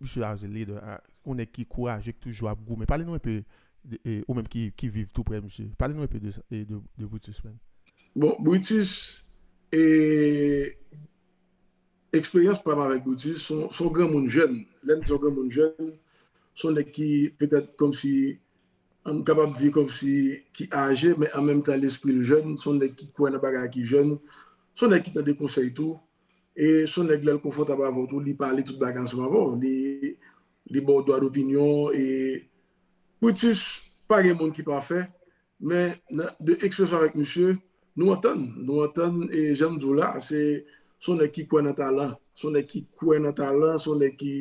Misye as a leader, yon nèg ki kouraje ki toujou ap goumen. Pale nou enpe de ou menm ki ki viv tou prè misye. Pale nou enpe de de Brutus man. Bon Brutus e eksperyans pam avèk Brutus son son granmoun jèn. Lèm di son granmoun jèn son nèg ki petèt kòmsi m kapab di kòmsi ki aje men an menm tan lespril jèn son nèg ki kwè nan bagay ki jèn son nèg ki tande konsèy tou E son nèg lèl konfòtab avèw tou li pale tout bagay ansanm avèw li baw dwa dopinyon e Brutus pa gen moun ki pafè men de eksperyans avèk misye nou antann nou antann e janm diw la se son nèg ki kwè nan talan son nèg ki kwè nan talan son nèg ki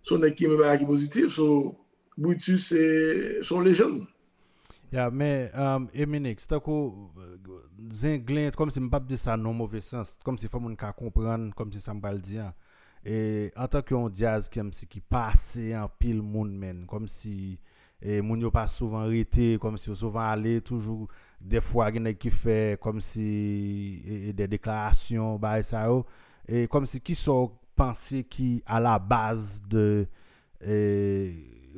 son nèg ki renmen bagay ki pozitif so Brutus se son lejann. Ya men Eminix tankou zenglen kòm si m pap di sa nan yon move sans kòm si fò moun ka konprann kòm si sa m pral di an e antan ke yon dyaz kèm si ki pase anpil moun menn kòm si e moun yo pa souvan rete kòm si yo souvan ale toujou dèfwa gen nèg ki fè kòm si e dè deklarasyon bagay sa yo e kòm si ki sa w panse ki a la baz de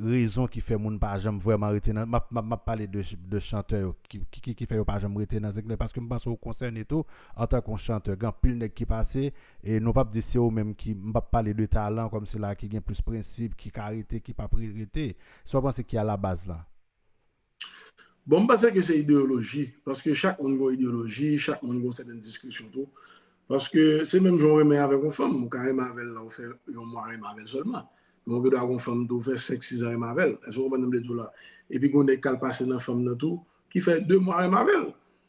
Rezon ki fè moun pa janm vrèman rete nan, map pale de chantè yo, ki fè yo pa janm rete nan zenglen, paske m panse ou konsène tou antanke yon chantè, gen anpil nèg ki pase, e nou pap di se ou menm ki, m pap pale de talan kòm sila ki gen plis prensip, ki ka rete, ki pap rete, sa w panse ki alabaz lan? Bon m panse ke se ideyoloji, paske chak moun gen yon ideyoloji, chak moun gen yon sèten diskresyon tou, paske se menm jan w renmen avèk yon fanm, ou ka renmen avè l lè w fè yon mwa renmen avè l sèlman, men ou gen dwa gen yon fanm tou ou fè senk sizan renmen avè l, èske w konprann sa m vle di w la? Epi gen yon nèg k al pase nan fanm nan tou ki fè de mwa renmen avè l.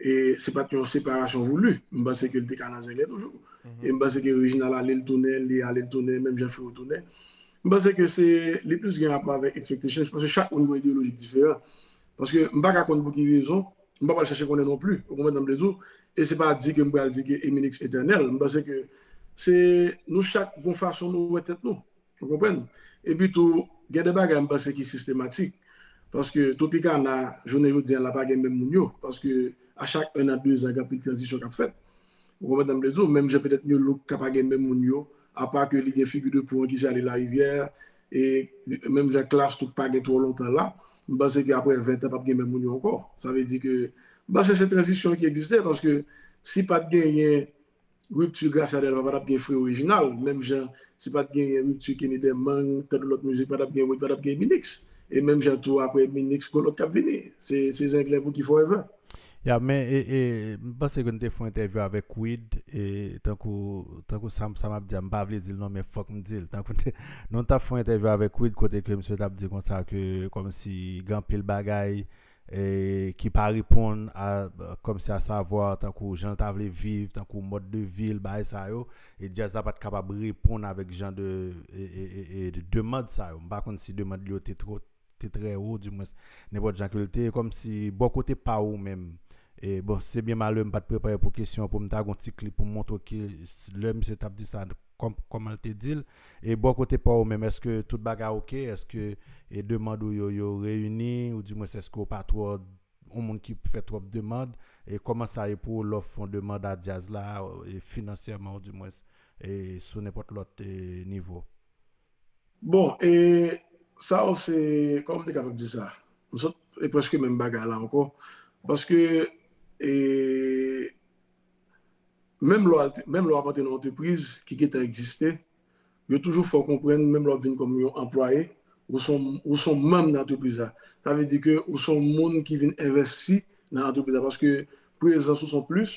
E se pat yon separasyon voulu. M panse ke li te ka nan Zenglen toujou. E m panse ke Reginald ale, li tounen, li ale, li tounen, menm jan Freo tounen. M panse ke se, li plis gen rapò avèk expectation. M panse chak moun gen yon ideolojik diferan. Paske m pa ka konn pou ki rezon, m pa pral chache konnen non pli. Ou konprann sa m vle di w? E se pa di ke m pral di ke Eminix etènèl. M panse ke se, nou chak gen yon fason nou wè tèt nou. Ou konprann? Epi tou, gen de bagay m panse ki sistematik. Paske Topikana, jounen jodi an la pa gen menm moun yo. Paske a chak 1 an, 2 zan gen anpil tranzisyon k ap fèt. Ou konprann sa m vle di w? Menm jan petèt New Look ka pa gen menm moun yo. Apa ke li gen figi de pou an ki se Ale Larivyè. E menm jan Klass tou k pa gen twò lontan la. M panse ke aprè 20 an p ap gen menm moun yo ankò. Sa vle di ke m panse se tranzisyon ki egziste. Paske si pa t genyen Rupture Gracia Delva pa tap gen Freo Reginald menm jan si pat genyen Rupture Kenny Demang tankou lòt mizik pa tap gen Wid pa tap gen Minix e menm jan tou aprè Minix gon lòt kap vini se zenglen pou ki forever. Ya men m panse ke nou te fon entèvyou avèk Wid e tankou tankou sa sa map di a m pa vle di l non men fòk m di l tankou nou tap fon entèvyou avèk Wid kote ke misye tap di konsa ke kòmsi gen anpil bagay ki pa reponn a kòm si a savwa tankou jan l ta vle viv tankou mòd de vi l bagay sa yo e djaz la pat kapab reponn avèk jan de demand sa yo m pa konn si demand li yo te twò te trè wo di mwens nenpòt jan ke l te e kòm si bò kote pa ou menm e bon se byen malè m pat prepare pou kesyon pou m ta gon ti klip pou m montre w ki lè misye tap di sa kòman l te di l. E bò kote pa w menm, èske tout bagay ok? Èske demand ou yo, yo reyini? Ou di mwens èske w pa twò yon moun ki fè twòp demand? E kòman sa ye pou w lè w fon demand a djaz la, finansyèman ou di mwens, e sou nenpòt lòt nivo? Bon, e sa yo se, kòman m te kapab di sa? M sot, e prèske menm bagay la ankò. Paske, e. menm lè w ap antre nan yon antrepriz ki gen tan egziste, yo toujou fè w konprann menm lè w ap vin kòm yon anplwaye, ou se yon manm nan antrepriz la. Sa vle di ke ou se yon moun ki vin envesti nan antrepriz la paske prezans ou se yon plis.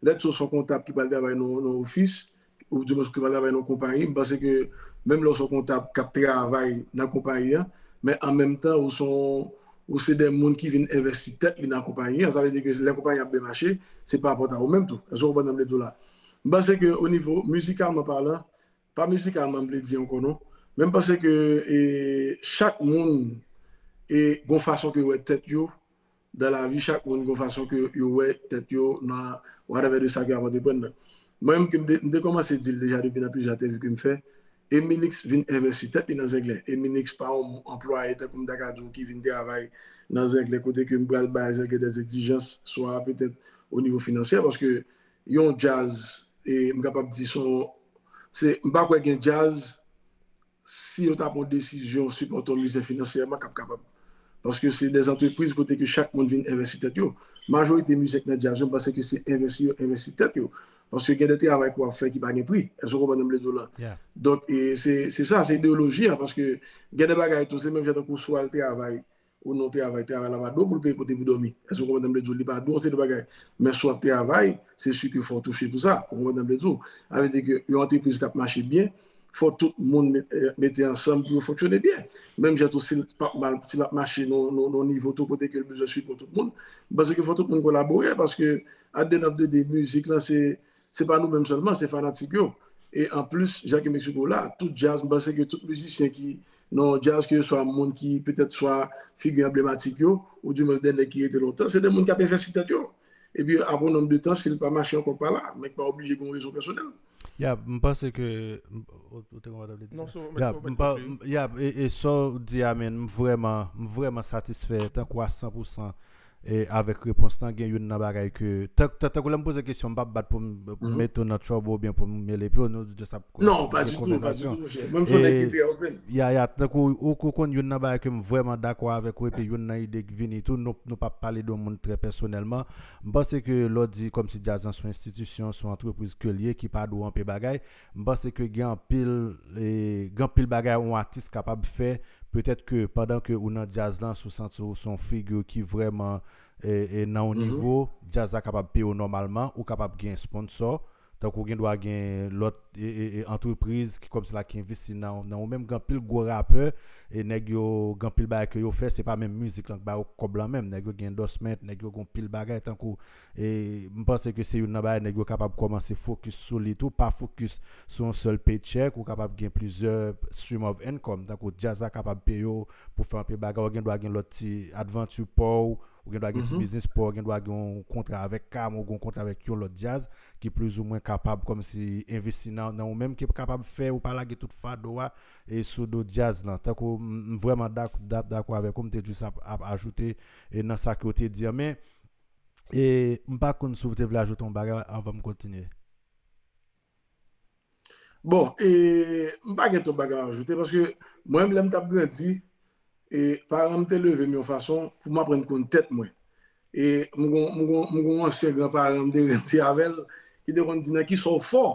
Lètsa w se yon kontab ki pral travay nan yon ofis, Ou di paske m pa travay nan yon konpayi, m panse ke menm lè ou se yon kontab k ap travay nan konpayi an, men an menm tan ou se yon, ou se de moun ki vin envesti tèt li nan konpayi an, sa vle di ke lè konpayi an ap byen mache, se parapòt a ou menm tou. Èske ou konprann sa m vle di w la? M panse ke onivo mizikalman palan, pa mizikalman m vle di ankò non, men m panse ke chak moun gen yon fason ke yo wè tèt yo, dan lavi chak moun gon fason ke yo wè tèt yo nan whatever de sa ke yap antreprann nan. Mwen menm ke m te kòmanse di l deja depi nan plizyè entèvyou ke m fè, Emilix vin envesti tèt li nan zenglen. Emilix pa yon anplwaye tankou m ta ka di w ki vin travay nan zenglen kote ke m pral bay zenglen dè egzijans swa petèt o nivo finansyè paske yon djaz e m kapab di son se m pa kwè gen djaz si yo ta pran yon desizyon sipòte yon mize finansyèman kap kapab paske se de antrepriz kote ke chak moun vin envesti tèt yo majorite mize k nan djaz yo m panse ke se envesti yo envesti tèt yo paske gen de travay ke wap fè ki pa gen pri èske w konprann sa m vle di w la donk se sa se ideoloji an paske gen de bagay tou se menm jan tankou sou al travay Ou non travay, travay la pa dou pou l peye kote pou dòmi. Èske ou konprann sa m vle di w? Li pa dou, se de bagay. Men si w ap travay, se si ke fò w touche pou sa. Ou konprann sa m vle di w? Sa vle di ke yon antrepriz k ap mache byen, fò tout moun mete ansanm pou yo fonksyone byen. Menm jan tou, si l pa p mal, si l ap mache nan yon nivo tou kote ke l bezwen sipò tout moun, m panse ke fò tout moun kolabore paske at the end of the day, mizik lan se Se pa nou menm sèlman, se fanatik yo. E an plis, Jacques et Mexico la, tout djaz, m panse ke tout mizisyen ki nan djaz, ke se swa moun ki petèt swa figi anblematik yo, ou di mwen de nèg ki rete lontan, se de moun k ap envesti tèt yo. E pi apre yon nonm de tan, si l pa mache ankò k pa la, men k pa oblije gen yon rezon pèsonèl. Ya, m panse ke, ou te konn wè sa w te di? Non, se w menm ki wè sa w di. Ya, e sa w di a menn, m vrèman, m vrèman satisfè tankou a 100 pou 100 Avèk repons lan gen youn nan bagay ke tankou lèm poze kesyon mpap bat poum met ou nan trouble oubyen poum mele piw nou just ap konvèzasyon. Non pa ditou pa ditou monchè mwen son nèg ki trè open. Ya ya tankou ou konn youn nan bagay kem vrèman dakò avèk ou epi youn nan ide ki vini tou nou pa pale de yon moun trè pèsonèlman mpanse ke lèw di kòmsi djaz lan son enstitisyon son antrepriz kel ye ki pa dwe anpe bagay M panse ke gen anpil gen anpil bagay on atis kapab fè petèt ke pandan ke ou nan djaz lan si w santi w se yon figure ki vrèman nan yon nivo djaz la kapab peye w nòmalman ou kapab gen sponsò tankou gen dwa gen lòt antrepriz ki kòm si la ki envesti nan ou menm gen anpil gwo rapè nèg yo gen anpil bagay ke yo fè se pa menm mizik lan ki ba yo kòb lan menm nèg yo gen endòsment nèg yo gen yon pil bagay tankou E m panse ke se youn nan bagay nèg yo kapab kòmanse fokis sou li tou, pa fokis sou yon sèl paycheck, ou kapab gen plizyè stream of income, tankou djaz la kapab peye w pou fè anpil bagay, ou gen dwa gen lòt ti advanture pa w, ou gen dwa gen ti biznis pa w, ou gen dwa gen yon kontra avèk Cam, ou gen yon kontra avèk yon lòt djaz ki plizoumwen kapab kòmsi envesti nan nan ou menm, ki kapab fè ou pa lage tout fado a e sou do djaz lan. Tankou m m vrèman dak dakò avèk ou, m te jis ap ap ajoute e nan sa ke w te di an, men E m pa konn si w te vle ajoute yon bagay anvan m kontinye. Bon, e m pa gen twòp bagay a ajoute paske mwen menm lè m t ap grandi, e paran m te leve m yon fason pou m aprann konn tèt mwen. E m gen yon ansyen granparan m te grandi avè l ki te konn di nan ki sa w fò.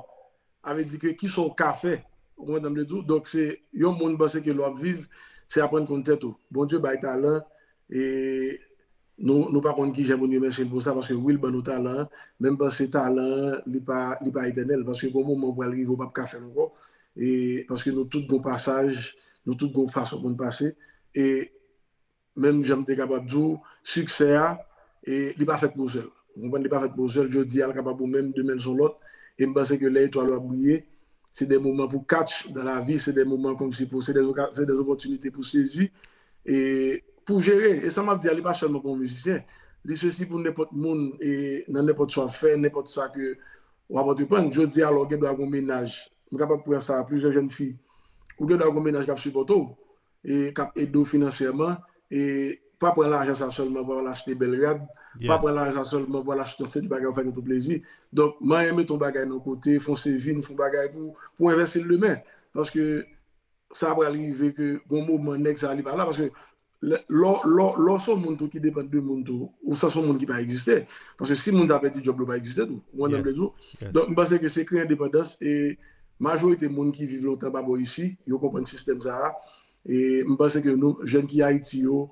Sa vle di ke ki sa w ka fè. Ou konprann sa m vle di w? Donk se yon moun panse ke lè w ap viv, se aprann konn tèt ou. Bondye bay talan e nou nou pa konn kijan pou n remèsye l pou sa paske wi l ban nou talan an, men m panse talan an li pa li pa etènèl paske gon moman ou pral rive ou p ap ka fè l ankò e paske nou tout gon pasaj, nou tout gon fason pou n pase e Menm jan m te kapab di w, siksè a, li pa fèt pou sèl. Ou konprann, li pa fèt pou sèl. Jodi a l kapab ou menm, demen l s on lòt. E m panse ke lè etwal ou ap briye, se de moman pou katch dan lavi, se de moman kòmsi pou, se de opòtinite pou sezi e pou jere. E sa m ap di a, li pa sèlman pou yon mizisyen. Li sesi pou nenpòt moun e nan nenpòt sa w ap fè, nenpòt sa ke w ap antreprann. Jodi a, lè w gen dwa gen yon mennaj, m kapab pran sa, plizyè jèn fi, ou gen dwa gen yon mennaj k ap sipòte w. k ap ede w finansyèman, pa pran lajan sa sèlman pou al achte bèl rad, pa pran lajan sa sèlman pou al achte yon seri bagay ou fè tèt ou plezi. Donk, manyen mete yon bagay nan kote, fè yon saving, fè yon bagay pou w envèsti l demen. Paske, sa pral rive ke gon moman nèg sa li pa la. Paske, lè w se yon moun tou ki depann de moun tou, ou sanse yon moun ki pa egziste. Paske, si moun sa pèdi djòb li, ou pa egziste tou. Ou konprann sa m vle di w? Donk, m panse ke se kreye endepandans e. Majorite moun ki viv lontan pa bò isi, yo konprann sistèm sa a. E m panse ke nou, jèn ki Ayiti yo,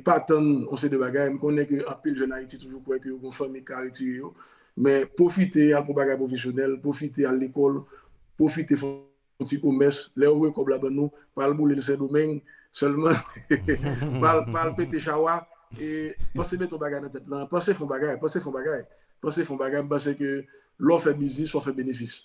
pa tann yon seri de bagay. M konnen ke anpil jèn Ayiti toujou kwè ke yo gen yon fanmi ki ka retire yo. Men pwofite al pou bagay pwofesyonèl, pwofite al lekòl, pwofite fè yon ti komès. Lè yo voye kòb la ban nou, pa al boule l Sendomeng sèlman. Pa al pete chawa. E panse mete yon bagay nan tèt lan. Panse fè yon bagay. Panse fè yon bagay. Panse fè yon bagay. M panse ke lè w fè biznis, fò w fè benefis.